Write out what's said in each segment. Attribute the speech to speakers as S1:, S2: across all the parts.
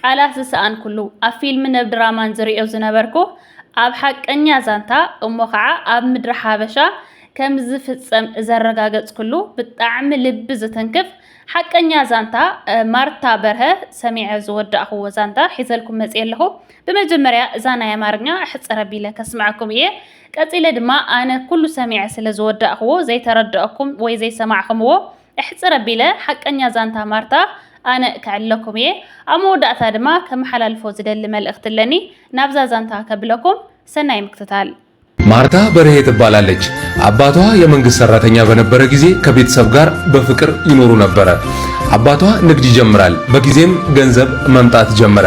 S1: ቃላት ዝሰኣንኩሉ፣ ኣብ ፊልምን ኣብ ድራማን ዝርእዮ ዝነበርኩ፣ ኣብ ሓቀኛ ዛንታ እሞ ኸዓ ኣብ ምድሪ ሓበሻ ከም ዝፍጸም ዘረጋገጽኩሉ ብጣዕሚ ልቢ ዝትንክፍ ሓቀኛ ዛንታ ማርታ በርሀ ሰሚዐ ዝወዳእኹዎ ዛንታ ሒዘልኩም መጽየ ኣለኹ። ብመጀመርያ እዛ ናይ ኣማርኛ ሕጽር ኣቢለ ከስምዐኩም እየ። ቀጺለ ድማ ኣነ ኩሉ ሰሚዐ ስለ ዝወዳእኹዎ ዘይተረደኣኩም ወይ ዘይሰማዕኹምዎ እሕጽር ኣቢለ ሓቀኛ ዛንታ ማርታ ኣነ ከዕልለኩም እየ። ኣብ መወዳእታ ድማ ከመሓላልፎ ዝደሊ መልእኽቲ ኣለኒ ናብዛ ዛንታ ከብለኩም። ሰናይ ምክትታል። ማርታ
S2: በርሄ ትባላለች አባቷ የመንግስት ሰራተኛ በነበረ ጊዜ ከቤተሰብ ጋር በፍቅር ይኖሩ ነበረ አባቷ ንግድ ይጀምራል በጊዜም ገንዘብ መምጣት ጀመረ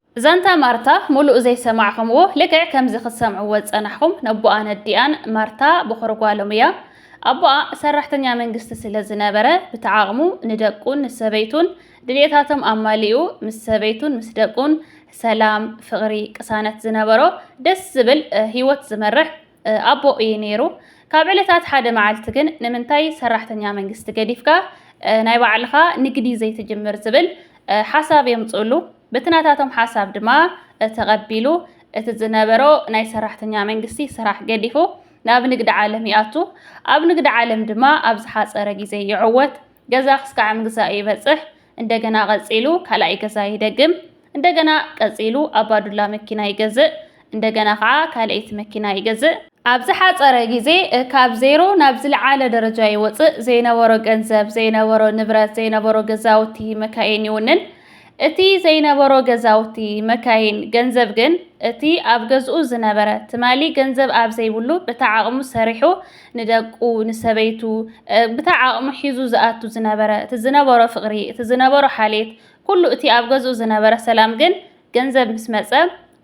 S2: ዛንታ
S1: ማርታ ሙሉእ ዘይሰማዕኹምዎ ልክዕ ከምዚ ክትሰምዕዎ ዝጸናሕኹም ነቦኣን ኣዲኣን ማርታ ቦኽሪ ጓሎም እያ ኣቦኣ ሰራሕተኛ መንግስቲ ስለ ዝነበረ ብትዓቕሙ ንደቁን ንሰበይቱን ድልየታቶም ኣማሊኡ ምስ ሰበይቱን ምስ ደቁን ሰላም ፍቕሪ ቅሳነት ዝነበሮ ደስ ዝብል ሂወት ዝመርሕ ኣቦ እዩ ነይሩ ካብ ዕለታት ሓደ መዓልቲ ግን ንምንታይ ሰራሕተኛ መንግስቲ ገዲፍካ ናይ ባዕልኻ ንግዲ ዘይትጅምር ዝብል ሓሳብ የምጽእሉ በቲ ናታቶም ሓሳብ ድማ እቲ ቀቢሉ እቲ ዝነበሮ ናይ ሰራሕተኛ መንግስቲ ስራሕ ገዲፉ ናብ ንግዲ ዓለም ይኣቱ፣ ኣብ ንግዲ ዓለም ድማ ኣብ ዝሓጸረ ግዜ ይዕወት፣ ገዛ ክስካዕ ምግዛእ ይበጽሕ፣ እንደገና ቀጺሉ ካልኣይ ገዛ ይደግም፣ እንደገና ቀጺሉ ኣባዱላ መኪና ይገዝእ፣ እንደገና ኸኣ ካልኣይቲ መኪና ይገዝእ። ኣብ ዝሓጸረ ግዜ ካብ ዜሮ ናብ ዝልዓለ ደረጃ ይወጽእ፣ ዘይነበሮ ገንዘብ፣ ዘይነበሮ ንብረት፣ ዘይነበሮ ገዛውቲ፣ መካይን ይውንን። እቲ ዘይነበሮ ገዛውቲ፣ መካይን፣ ገንዘብ ግን እቲ ኣብ ገዝኡ ዝነበረ፣ ትማሊ ገንዘብ ኣብ ዘይብሉ ብታ ዓቕሙ ሰሪሑ ንደቁ፣ ንሰበይቱ፣ ብታ ዓቕሙ ሒዙ ዝኣቱ ዝነበረ፣ እቲ ዝነበሮ ፍቕሪ፣ እቲ ዝነበሮ ሓልየት፣ ኩሉ እቲ ኣብ ገዝኡ ዝነበረ ሰላም ግን ገንዘብ ምስ መጸ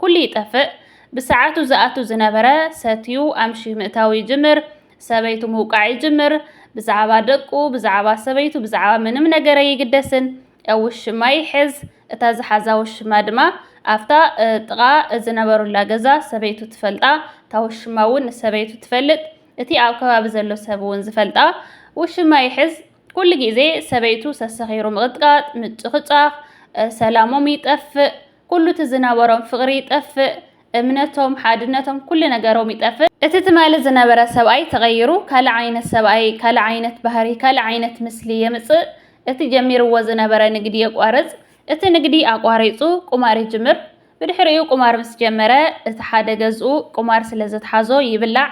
S1: ኩሉ ይጠፍእ። ብሰዓቱ ዝኣቱ ዝነበረ ሰትዩ ኣምሽዩ ምእታው ይጅምር። ሰበይቱ ምውቃዕ ይጅምር። ብዛዕባ ደቁ፣ ብዛዕባ ሰበይቱ፣ ብዛዕባ ምንም ነገር ኣይግደስን። ኣብ ውሽማ ይሕዝ። እታ ዝሓዛ ውሽማ ድማ ኣብታ ጥቓ ዝነበሩላ ገዛ ሰበይቱ ትፈልጣ፣ እታ ውሽማ እውን ንሰበይቱ ትፈልጥ፣ እቲ ኣብ ከባቢ ዘሎ ሰብ እውን ዝፈልጣ ውሽማ ይሕዝ። ኩሉ ግዜ ሰበይቱ ሰሰኺሩ ምቕጥቃጥ፣ ምጭቕጫቕ፣ ሰላሞም ይጠፍእ፣ ኩሉ እቲ ዝነበሮም ፍቕሪ ይጠፍእ፣ እምነቶም፣ ሓድነቶም፣ ኩሉ ነገሮም ይጠፍእ። እቲ ትማሊ ዝነበረ ሰብኣይ ተቐይሩ ካልእ ዓይነት ሰብኣይ፣ ካልእ ዓይነት ባህሪ፣ ካልእ ዓይነት ምስሊ የምጽእ። እቲ ጀሚርዎ ዝነበረ ንግዲ የቋርጽ። እቲ ንግዲ ኣቋሪጹ ቁማር ይጅምር። ብድሕሪኡ ቁማር ምስ ጀመረ እቲ ሓደ ገዝኡ ቁማር ስለ ዘትሓዞ ይብላዕ፣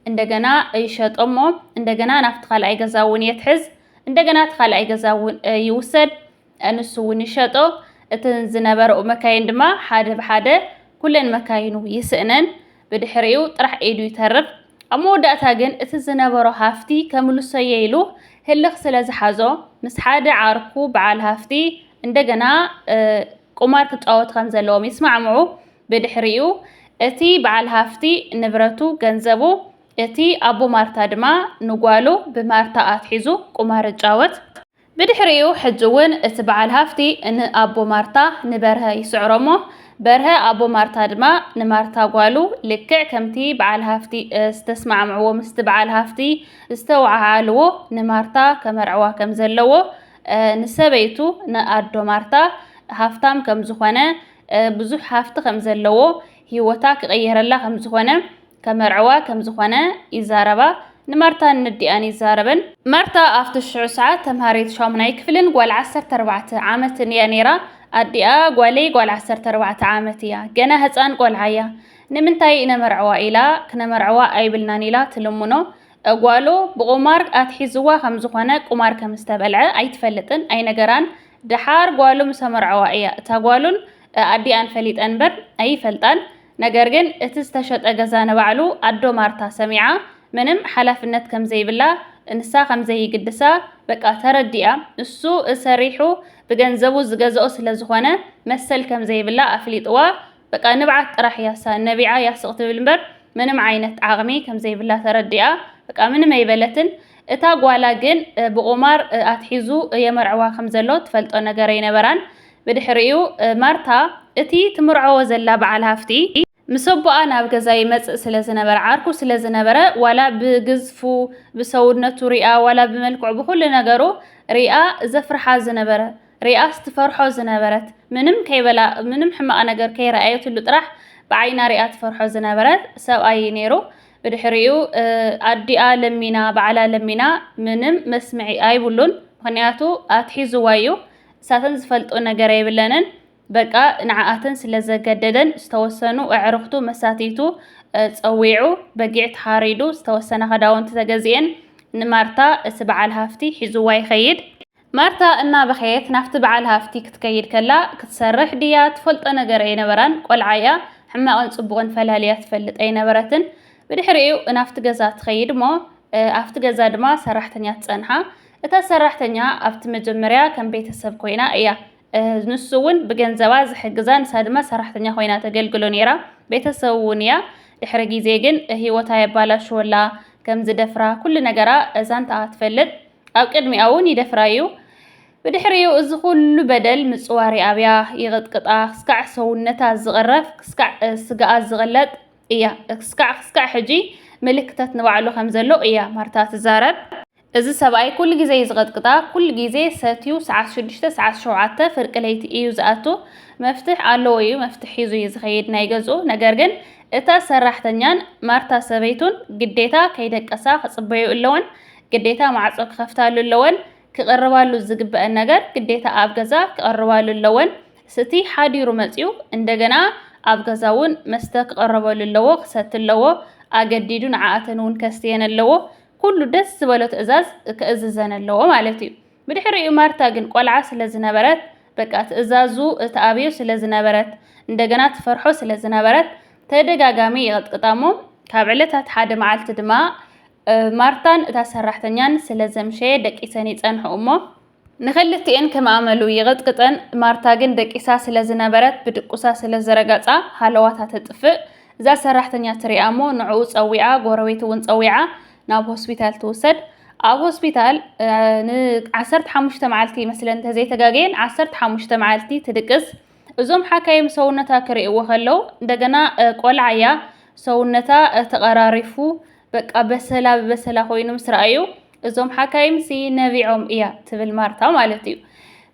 S1: እንደገና ይሸጦሞ እንደገና ናብቲ ካልኣይ ገዛ እውን የትሕዝ እንደገና እቲ ካልኣይ ገዛ እውን ይውሰድ ንሱ እውን ይሸጦ እተን ዝነበረኡ መካይን ድማ ሓደ ብሓደ ኩለን መካይኑ ይስእነን ብድሕሪኡ ጥራሕ ኢዱ ይተርፍ ኣብ መወዳእታ ግን እቲ ዝነበሮ ሃፍቲ ከምልሶየ ኢሉ ህልኽ ስለ ዝሓዞ ምስ ሓደ ዓርኩ በዓል ሃፍቲ እንደገና ቁማር ክጫወቱ ከም ዘለዎም ይስማዕምዑ ብድሕሪኡ እቲ በዓል ሃፍቲ ንብረቱ ገንዘቡ እቲ ኣቦ ማርታ ድማ ንጓሉ ብማርታ ኣትሒዙ ቁማር እጫወት። ብድሕሪኡ ሕጂ እውን እቲ በዓል ሃፍቲ ንኣቦ ማርታ ንበርሀ ይስዕሮ እሞ በርሀ ኣቦ ማርታ ድማ ንማርታ ጓሉ ልክዕ ከምቲ በዓል ሃፍቲ ዝተስማዕምዕዎ ምስቲ በዓል ሃፍቲ ዝተወዓዓልዎ ንማርታ ከመርዕዋ ከምዘለዎ ንሰበይቱ ንኣዶ ማርታ ሃፍታም ከምዝኾነ ብዙሕ ሃፍቲ ከም ዘለዎ፣ ህይወታ ክቕየረላ ከም ዝዀነ፣ ከመርዕዋ ከም ዝዀነ ይዛረባ። ንማርታን ነዲኣን ይዛረበን። ማርታ ኣብቲ ሽዑ ሰዓት ተምሃሪት ሻሙናይ ክፍልን ጓል ዓሰርተ ኣርባዕተ ዓመትን እያ ነይራ። ኣዲኣ፣ ጓለይ ጓል ዓሰርተ ኣርባዕተ ዓመት እያ፣ ገና ህጻን ቈልዓ እያ፣ ንምንታይ ነመርዕዋ ኢላ፣ ክነመርዕዋ ኣይብልናን ኢላ ትልምኖ። ጓሉ ብቑማር ኣትሒዝዋ ከም ዝዀነ፣ ቁማር ከም ዝተበልዐ ኣይትፈልጥን፣ ኣይነገራን። ደሓር ጓሉ ምስ ኣመርዓዋ እያ እታ ጓሉን ኣዲኣን ፈሊጠን እምበር ኣይፈልጣን ነገር ግን እቲ ዝተሸጠ ገዛ ንባዕሉ ኣዶ ማርታ ሰሚዓ ምንም ሓላፍነት ከም ዘይብላ ንሳ ከም ዘይግድሳ በቃ ተረዲኣ ንሱ ሰሪሑ ብገንዘቡ ዝገዝኦ ስለ ዝኾነ መሰል ከም ዘይብላ ኣፍሊጥዋ በቃ ንብዓት ጥራሕ እያ እሳ ነቢዓ እያ ስቅ ትብል እምበር ምንም ዓይነት ዓቅሚ ከምዘይብላ ተረዲኣ በቃ ምንም ኣይበለትን እታ ጓላ ግን ብቁማር ኣትሒዙ የመርዕዋ ከምዘሎ ትፈልጦ ነገር ኣይነበራን ብድሕሪኡ ማርታ እቲ ትምርዐዎ ዘላ በዓል ሃፍቲ ምስ ኣቦኣ ናብ ገዛ ይመጽእ ስለ ዝነበረ ዓርኩ ስለ ዝነበረ ዋላ ብግዝፉ ብሰውነቱ ሪኣ ዋላ ብመልክዑ ብኩሉ ነገሩ ሪኣ ዘፍርሓ ዝነበረ ሪኣስ ትፈርሖ ዝነበረት ምንም ከይበላ ምንም ሕማቅ ነገር ከይረኣየትሉ ጥራሕ ብዓይና ሪኣ ትፈርሖ ዝነበረት ሰብኣይ እዩ ነይሩ። ብድሕሪኡ ኣዲኣ ለሚና ባዕላ ለሚና ምንም መስምዒ ኣይብሉን ምክንያቱ ኣትሒዝዋ እዩ እሳተን ዝፈልጦ ነገር ኣይብለንን በቃ ንዓኣተን ስለ ዘገደደን ዝተወሰኑ ኣዕርክቱ መሳትይቱ ፀዊዑ በጊዕ ተሓሪዱ ዝተወሰነ ከዳውንቲ ተገዚኤን ንማርታ እቲ በዓል ሃፍቲ ሒዝዋ ይኸይድ። ማርታ እናበኸየት ናብቲ በዓል ሃፍቲ ክትከይድ ከላ፣ ክትሰርሕ ድያ ትፈልጦ ነገር ኣይነበራን፣ ቆልዓ'ያ፣ ሕማቕን ጽቡቕን ፈላልያ ትፈልጥ ኣይነበረትን። ብድሕሪኡ ናብቲ ገዛ ትኸይድ'ሞ ኣብቲ ገዛ ድማ ሰራሕተኛ ትጸንሓ። እታ ሰራሕተኛ ኣብቲ መጀመርያ ከም ቤተሰብ ኮይና እያ ንሱ እውን ብገንዘባ ዝሕግዛ ንሳ ድማ ሰራሕተኛ ኮይና ተገልግሎ ነይራ ቤተሰብ እውን እያ ድሕሪ ግዜ ግን ህይወታ የባላሽወላ ከም ዝደፍራ ኩሉ ነገራ ዛንታኣ ትፈልጥ ኣብ ቅድሚኣ እውን ይደፍራ እዩ። ብድሕሪኡ እዚ ኩሉ በደል ምጽዋር ይኣብያ፣ ይቕጥቅጣ፣ ክስካዕ ሰውነታ ዝቕረፍ፣ ክስካዕ ስጋኣ ዝቕለጥ እያ። ክስካዕ ክስካዕ ሕጂ ምልክተት ንባዕሉ ከም ዘሎ እያ ማርታ ትዛረብ። እዚ ሰብኣይ ኩሉ ግዜ እዩ ዝቐጥቅጣ፣ ኩሉ ግዜ ሰትዩ ሰዓት ሽዱሽተ ሰዓት ሸውዓተ ፍርቂ ለይቲ እዩ ዝኣቱ። መፍትሕ ኣለዎ እዩ፣ መፍትሕ ሒዙ እዩ ዝኸይድ ናይ ገዝኡ። ነገር ግን እታ ሰራሕተኛን ማርታ ሰበይቱን ግዴታ ከይደቀሳ ክጽበዩ ኣለወን። ግዴታ ማዕጾ ክኸፍታሉ ኣለወን። ክቕርባሉ ዝግበእን ነገር ግዴታ ኣብ ገዛ ክቐርባሉ ኣለወን። ስቲ ሓዲሩ መጺኡ እንደገና ኣብ ገዛ እውን መስተ ክቐረበሉ ኣለዎ፣ ክሰቲ ኣለዎ። ኣገዲዱ ንዓኣተን እውን ከስትየን ኣለዎ። ኩሉ ደስ ዝበሎ ትእዛዝ ክእዝዘን ኣለዎ ማለት እዩ። ብድሕሪኡ ማርታ ግን ቆልዓ ስለ ዝነበረት በቃ ትእዛዙ ትኣብዮ ስለ ዝነበረት እንደገና ትፈርሖ ስለ ዝነበረት ተደጋጋሚ ይቕጥቅጣ እሞ ካብ ዕለታት ሓደ መዓልቲ ድማ ማርታን እታ ሰራሕተኛን ስለ ዘምሸየ ደቂሰን ይጸንሑ እሞ፣ ንኽልቲኤን ከም ኣመሉ ይቕጥቅጠን፣ ማርታ ግን ደቂሳ ስለ ዝነበረት ብድቁሳ ስለ ዝረገጻ ሃለዋታ ተጥፍእ፣ እዛ ሰራሕተኛ ትሪኣ እሞ ንዕኡ ጸዊዓ ጎረቤት እውን ጸዊዓ ናብ ሆስፒታል ትውሰድ፣ ኣብ ሆስፒታል ን ዓሰርተ ሓሙሽተ መዓልቲ ይመስለኒ ተዘይተጋግየ ዓሰርተ ሓሙሽተ መዓልቲ ትድቅስ፣ እዞም ሓካይም ሰውነታ ክሪእዎ ከለው እንደገና ቆልዓ እያ ሰውነታ ተቐራሪፉ በቃ በሰላ ብበሰላ ኮይኑ ምስ ረኣዩ እዞም ሓካይምሲ ነቢዖም እያ ትብል ማርታ ማለት እዩ።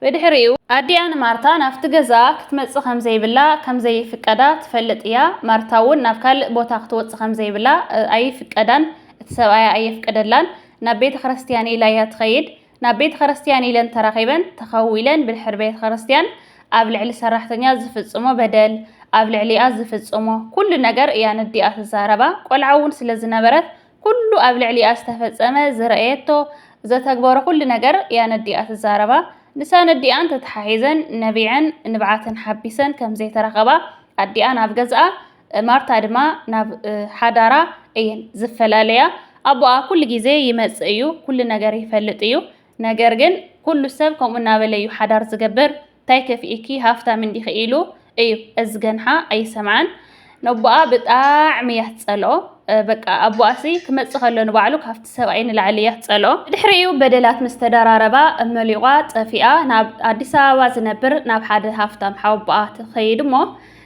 S1: ብድሕሪኡ ኣዲኣ ንማርታ ናብቲ ገዛ ክትመጽእ ከም ዘይብላ ከም ዘይፍቀዳ ትፈልጥ እያ። ማርታ እውን ናብ ካልእ ቦታ ክትወጽእ ከም ዘይብላ ኣይፍቀዳን፣ እቲ ሰብኣያ ኣየፍቅደላን። ናብ ቤተ ክርስትያን ኢላ እያ ትኸይድ። ናብ ቤተ ኸረስትያን ኢለን ተራኺበን ተኸዊለን ብድሕሪ ቤተ ኸረስትያን ኣብ ልዕሊ ሰራሕተኛ ዝፍጽሞ በደል ኣብ ልዕሊኣ ዝፍጽሞ ኩሉ ነገር እያ ነዲኣ ትዛረባ ቆልዓ እውን ስለ ዝነበረት ኩሉ ኣብ ልዕሊኣ ዝተፈጸመ ዝረእየቶ ዘተግበሮ ኩሉ ነገር እያ ነዲኣ ትዛረባ ንሳ ነዲኣን ተተሓሒዘን ነቢዐን ንብዓተን ሓቢሰን ከም ዘይተራኸባ ኣዲኣ ናብ ገዝኣ ማርታ ድማ ናብ ሓዳራ እየን ዝፈላለያ። ኣቦኣ ኩሉ ግዜ ይመጽእ እዩ፣ ኩሉ ነገር ይፈልጥ እዩ። ነገር ግን ኩሉ ሰብ ከምኡ እናበለ እዩ ሓዳር ዝገብር፣ እንታይ ከፊኢኪ ሃፍታም እንዲኺ ኢሉ እዩ። እዚ ገንሓ ኣይሰምዓን። ነቦኣ ብጣዕሚ እያ ትጸልኦ። በቃ ኣቦኣሲ ክመጽእ ከሎ ንባዕሉ ካብቲ ሰብኣይ ንላዕሊ እያ ትጸልኦ። ብድሕሪኡ በደላት ምስ ተደራረባ መሊቋ ጠፊኣ ናብ ኣዲስ ኣበባ ዝነብር ናብ ሓደ ሃፍታም ሓወቦኣ ትኸይድ እሞ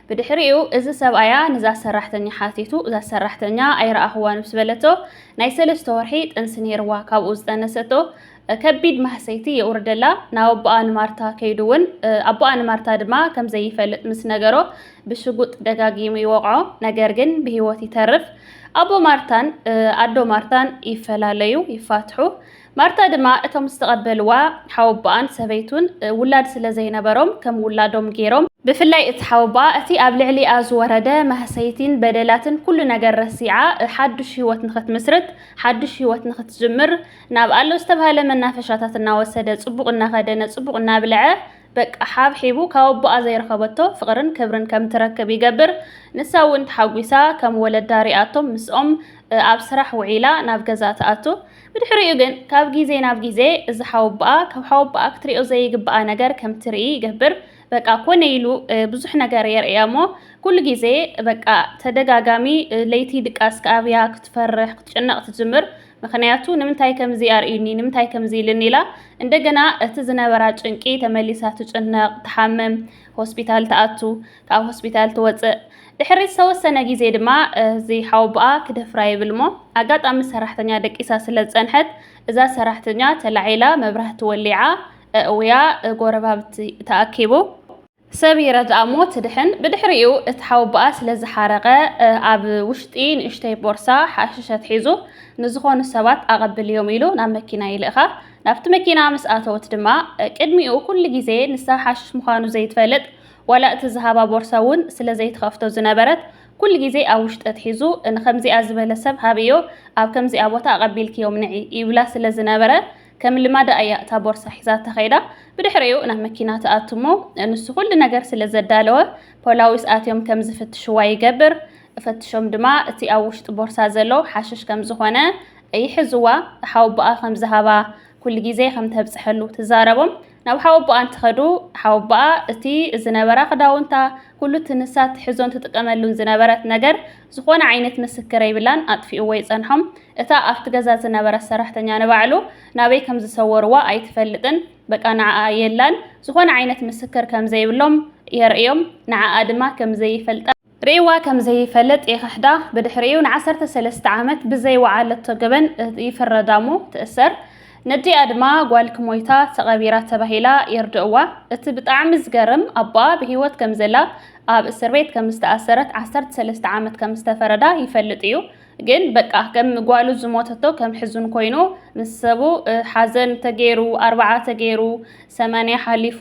S1: ብድሕሪኡ እዚ ሰብኣያ ንዛ ሰራሕተኛ ሓቲቱ፣ እዛ ሰራሕተኛ ኣይረኣኹዋን ምስ በለቶ፣ ናይ ሰለስተ ወርሒ ጥንሲ ነይርዋ፣ ካብኡ ዝጠነሰቶ ከቢድ ማህሰይቲ የውርደላ፣ ናብ ኣቦኣ ንማርታ ከይዱ እውን ኣቦኣ ንማርታ ድማ ከም ዘይፈልጥ ምስ ነገሮ ብሽጉጥ ደጋጊሙ ይወቕዖ፣ ነገር ግን ብህይወት ይተርፍ። ኣቦ ማርታን ኣዶ ማርታን ይፈላለዩ፣ ይፋትሑ። ማርታ ድማ እቶም ዝተቐበልዋ ሓወቦኣን ሰበይቱን ውላድ ስለ ዘይነበሮም ከም ውላዶም ገይሮም፣ ብፍላይ እቲ ሓወቦኣ እቲ ኣብ ልዕሊኣ ዝወረደ ማህሰይቲን በደላትን ኩሉ ነገር ረሲዓ ሓዱሽ ህይወት ንኽትምስርት ሓዱሽ ህይወት ንኽትጅምር ናብ ኣሎ ዝተብሃለ መናፈሻታት እናወሰደ ጽቡቕ እናኸደነ ጽቡቕ እናብልዐ በቃ ሓብሒቡ ካብ ኣቦኣ ዘይረኸበቶ ፍቕርን ክብርን ከም ትረክብ ይገብር። ንሳ እውን ተሓጒሳ ከም ወለዳ ሪኣቶም ምስኦም ኣብ ስራሕ ውዒላ ናብ ገዛ ትኣቱ። ብድሕሪኡ ግን ካብ ግዜ ናብ ግዜ እዚ ሓወቦኣ ካብ ሓወቦኣ ክትሪኦ ዘይግብኣ ነገር ከም ትርኢ ይገብር። በቃ ኮነ ኢሉ ብዙሕ ነገር የርእያ እሞ ኩሉ ግዜ በቃ ተደጋጋሚ ለይቲ ድቃስ ክኣብያ ክትፈርሕ ክትጭነቕ ትጅምር። ምክንያቱ ንምንታይ ከምዚ ኣርእዩኒ ንምንታይ ከምዚ ኢልኒ ኢላ እንደገና እቲ ዝነበራ ጭንቂ ተመሊሳ ትጭነቕ ትሓምም ሆስፒታል ትኣቱ። ካብ ሆስፒታል ትወጽእ። ድሕሪ ዝተወሰነ ግዜ ድማ እዚ ሓወቦኣ ክደፍራ ይብልሞ ኣጋጣሚ ሰራሕተኛ ደቂሳ ስለ ዝጸንሐት እዛ ሰራሕተኛ ተላዒላ መብራህቲ ወሊዓ እእውያ ጎረባብቲ ተኣኪቡ ሰብ ይረድኣሞ ትድሕን ብድሕሪኡ እቲ ሓወቦኣ ስለ ዝሓረቐ ኣብ ውሽጢ ንእሽተይ ቦርሳ ሓሽሽ ኣትሒዙ ንዝኾኑ ሰባት ኣቐብልዮም ኢሉ ናብ መኪና ይልእኻ ናብቲ መኪና ምስ ኣተወት ድማ ቅድሚኡ ኩሉ ግዜ ንሳ ሓሽሽ ምዃኑ ዘይትፈልጥ ዋላ እቲ ዝሃባ ቦርሳ እውን ስለ ዘይትኸፍቶ ዝነበረት ኩሉ ግዜ ኣብ ውሽጢ ኣትሒዙ ንኸምዚኣ ዝበለ ሰብ ሃብዮ ኣብ ከምዚኣ ቦታ ኣቐቢልክዮም ንዒ ይብላ ስለ ዝነበረ ከም ልማዳ እያ እታ ቦርሳ ሒዛ ተኸይዳ ብድሕሪኡ ናብ መኪና ትኣቱ እሞ ንሱ ኩሉ ነገር ስለ ዘዳለወ ፖላዊስ ኣትዮም ከም ዝፍትሽዋ ይገብር ፈትሾም ድማ እቲ ኣብ ውሽጢ ቦርሳ ዘሎ ሓሽሽ ከም ዝኾነ ይሕዝዋ ሓወቦኣ ከም ዝሃባ ኩሉ ግዜ ከም ተብጽሐሉ ትዛረቦም ናብ ሓወቦኣ እንትኸዱ፣ ሓወቦኣ እቲ ዝነበራ ክዳውንታ፣ ኩሉ እቲ ንሳ ትሕዞን ትጥቀመሉን ዝነበረት ነገር፣ ዝኾነ ዓይነት ምስክር ኣይብላን፣ ኣጥፊኡዎ ይጸንሖም። እታ ኣብቲ ገዛ ዝነበረት ሰራሕተኛ ንባዕሉ ናበይ ከም ዝሰወሩዋ ኣይትፈልጥን፣ በቃ ንዓኣ የላን፣ ዝኾነ ዓይነት ምስክር ከም ዘይብሎም የርእዮም፣ ንዓኣ ድማ ከም ዘይፈልጣ። ርእይዋ ከም ዘይፈልጥ ይኽሕዳ፣ ብድሕሪኡ ንዓሰርተ ሰለስተ ዓመት ብዘይወዓለቶ ገበን ይፍረዳ'ሞ ትእሰር፣ ነዲኣ ድማ ጓልኪ ሞይታ ተቐቢራ ተባሂላ የርድእዋ፣ እቲ ብጣዕሚ ዝገርም ኣቦኣ ብህይወት ከም ዘላ ኣብ እስርቤት ከም ዝተኣሰረት ዓሰርተ ሰለስተ ዓመት ከም ዝተፈረዳ ይፈልጥ ኢዩ፣ ግን በቃ ከም ጓሉ ዝሞተቶ ከም ሕዙን ኮይኑ ምስ ሰቡ ሓዘን ተገይሩ ኣርብዓ ተገይሩ ሰማንያ ሓሊፉ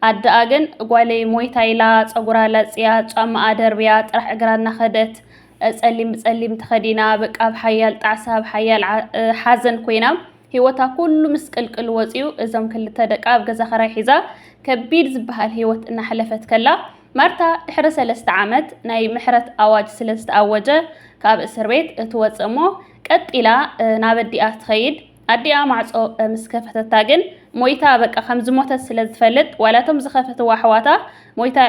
S1: ኣደኣ ግን ጓለይ ሞይታ ኢላ ጸጉራ ላጽያ ጫማኣ ደርብያ ጥራሕ እግራ እናኸደት ጸሊም ብጸሊም ተኸዲና በቃ ኣብ ሓያል ጣዕሳ ኣብ ሓያል ሓዘን ኮይና ህይወታ ኩሉ ምስቅልቅል ወፅዩ እዞም ክልተ ደቃ ኣብ ገዛ ኸራይ ሒዛ ከቢድ ዝበሃል ህይወት እናሕለፈት ከላ ማርታ ድሕሪ ሰለስተ ዓመት ናይ ምሕረት ኣዋጅ ስለ ዝተኣወጀ ካብ እስር ቤት እትወፅእ እሞ ቀጢላ ናብ ኣዲኣ ትኸይድ። ኣዲኣ ማዕጾ ምስ ከፈተታ ግን ሞይታ በቃ ከም ዝሞተት ስለ ዝፈልጥ ዋላ እቶም ዝኸፈትዋ ኣሕዋታ ሞይታ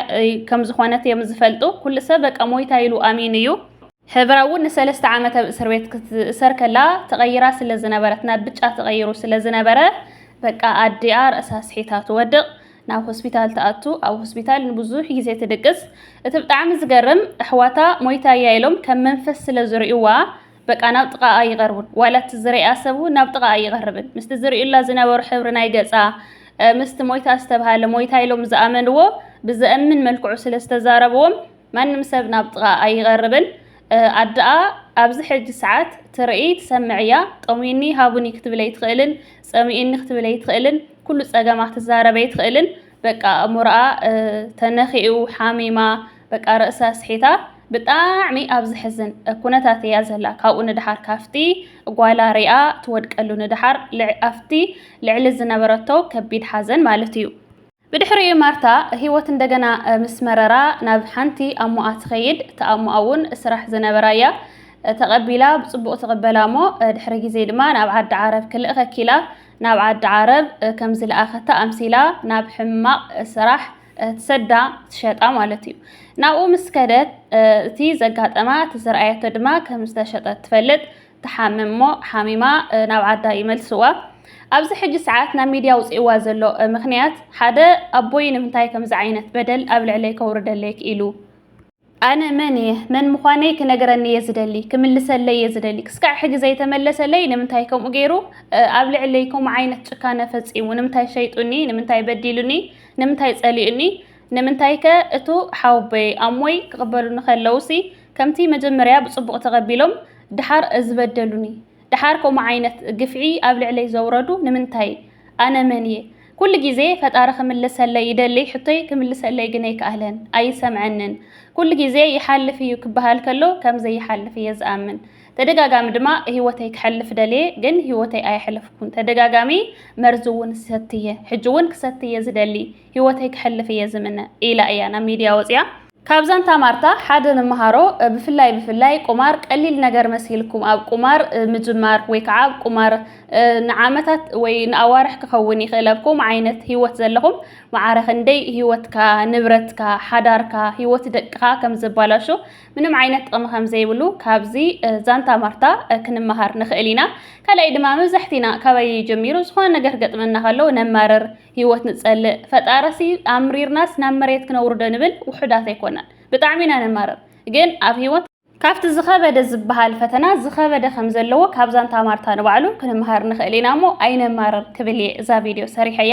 S1: ከም ዝኾነት እዮም ዝፈልጡ። ኩሉ ሰብ በቃ ሞይታ ኢሉ ኣሚኑ እዩ። ሕብራ እውን ንሰለስተ ዓመት ኣብ እስር ቤት ክትእሰር ከላ ተቐይራ ስለ ዝነበረት ናብ ብጫ ተቐይሩ ስለ ዝነበረ በቃ ኣዲኣ ርእሳ ስሒታ ትወድቕ። ናብ ሆስፒታል ትኣቱ ኣብ ሆስፒታል ንብዙሕ ግዜ ትድቅስ እቲ ብጣዕሚ ዝገርም ኣሕዋታ ሞይታ እያ ኢሎም ከም መንፈስ ስለ ዝርእዩዋ በቃ ናብ ጥቓኣ ኣይቐርቡን። ዋላ እቲ ዝርኣ ሰብ እውን ናብ ጥቓኣ ኣይቐርብን። ምስቲ ዝርእዩላ ዝነበሩ ሕብሪ ናይ ገጻ፣ ምስቲ ሞይታ ዝተብሃለ ሞይታ ኢሎም ዝኣመንዎ ብዘእምን መልክዑ ስለ ዝተዛረብዎም ማንም ሰብ ናብ ጥቓኣ ኣይቐርብን። ኣደኣ ኣብዚ ሕጂ ሰዓት ትርኢ ትሰምዕ እያ። ጠምዩኒ ሃቡኒ ክትብል ኣይትኽእልን፣ ጸሚኡኒ ክትብል ኣይትኽእልን፣ ኩሉ ጸገማ ክትዛረብ ኣይትኽእልን። በቃ ኣእምሮኣ ተነኺኡ፣ ሓሚማ፣ በቃ ርእሳ ኣስሒታ ብጣዕሚ ኣብ ዝሕዝን ኩነታት እያ ዘላ ካብኡ ንደሓር ካፍቲ ጓላ ሪኣ ትወድቀሉ ንደሓር ኣፍቲ ልዕሊ ዝነበረቶ ከቢድ ሓዘን ማለት እዩ። ብድሕሪኡ ማርታ ሂወት እንደገና ምስ መረራ ናብ ሓንቲ ኣሞኣ ትኸይድ እታ ኣሞኣ እውን ስራሕ ዝነበራ እያ ተቐቢላ ብጽቡቕ ትቕበላ እሞ ድሕሪ ግዜ ድማ ናብ ዓዲ ዓረብ ክልእኸኪ ኢላ ናብ ዓዲ ዓረብ ከም ዝለኣኸታ ኣምሲላ ናብ ሕማቕ ስራሕ ትሰዳ ትሸጣ ማለት እዩ ናብኡ ምስ ከደት እቲ ዘጋጠማ እቲ ዝረኣየቶ ድማ ከም ዝተሸጠት ትፈልጥ ትሓምም እሞ ሓሚማ ናብ ዓዳ ይመልስዋ ኣብዚ ሕጂ ሰዓት ናብ ሚድያ ውፅእዋ ዘሎ ምክንያት ሓደ ኣቦይ ንምንታይ ከምዚ ዓይነት በደል ኣብ ልዕለይ ከውርደለይ ክኢሉ ኣነ መን እየ? መን ምዃነይ ክነግረኒ እየ ዝደሊ፣ ክምልሰለይ እየ ዝደሊ። ክስካዕ ሕጂ ዘይተመለሰለይ ንምንታይ ከምኡ ገይሩ ኣብ ልዕለይ ከምኡ ዓይነት ጭካነ ፈጺሙ? ንምንታይ ሸይጡኒ? ንምንታይ በዲሉኒ? ንምንታይ ጸሊኡኒ? ንምንታይከ እቱ ሓወቦይ ኣሞይ ክቕበሉኒ ከለውሲ ከምቲ መጀመርያ ብጽቡቕ ተቐቢሎም ድሓር ዝበደሉኒ? ደሓር ከምኡ ዓይነት ግፍዒ ኣብ ልዕለይ ዘውረዱ ንምንታይ? ኣነ መን እየ? ኩሉ ግዜ ፈጣሪ ክምልሰለይ ይደሊ ሕቶይ ክምልሰለይ ግን ኣይከኣለን፣ ኣይሰምዐንን። ኩሉ ግዜ ይሓልፍ እዩ ክበሃል ከሎ ከም ዘይሓልፍ እየ ዝኣምን። ተደጋጋሚ ድማ ህይወተይ ክሐልፍ ደልየ ግን ህይወተይ ኣየሕለፍኩን። ተደጋጋሚ መርዚ እውን ይሰቲ እየ። ሕጂ እውን ክሰቲ እየ ዝደሊ፣ ህይወተይ ክሐልፍ እየ ዝምነ ኢላ እያ ናብ ሚድያ ወፂኣ። ካብ ዛንታ ማርታ ሓደ ንመሃሮ፣ ብፍላይ ብፍላይ ቁማር ቀሊል ነገር መሲልኩም ኣብ ቁማር ምጅማር ወይ ከዓ ኣብ ቁማር ንዓመታት ወይ ንኣዋርሕ ክኸውን ይኽእል ኣብ ከምኡ ዓይነት ህይወት ዘለኹም መዓረ ክንደይ ህይወትካ፣ ንብረትካ፣ ሓዳርካ፣ ህይወት ደቅኻ ከም ዘባላሹ ምንም ዓይነት ጥቕሚ ከም ዘይብሉ ካብዚ ዛንታ ማርታ ክንመሃር ንኽእል ኢና። ካልኣይ ድማ መብዛሕቲና ካባይ ጀሚሩ ዝኾነ ነገር ገጥመና ከሎ ነማርር ህይወት ንጸልእ ፈጣረሲ ኣምሪርናስ ናብ መሬት ክነውርዶ ንብል ውሑዳት ኣይኮናን ብጣዕሚ ኢና ነማርር ግን ኣብ ህይወት ካብቲ ዝኸበደ ዝበሃል ፈተና ዝኸበደ ከም ዘለዎ ካብ ዛንታ ማርታ ንባዕሉ ክንምሃር ንኽእል ኢና እሞ ኣይነማርር ክብል እየ እዛ ቪድዮ ሰሪሐያ።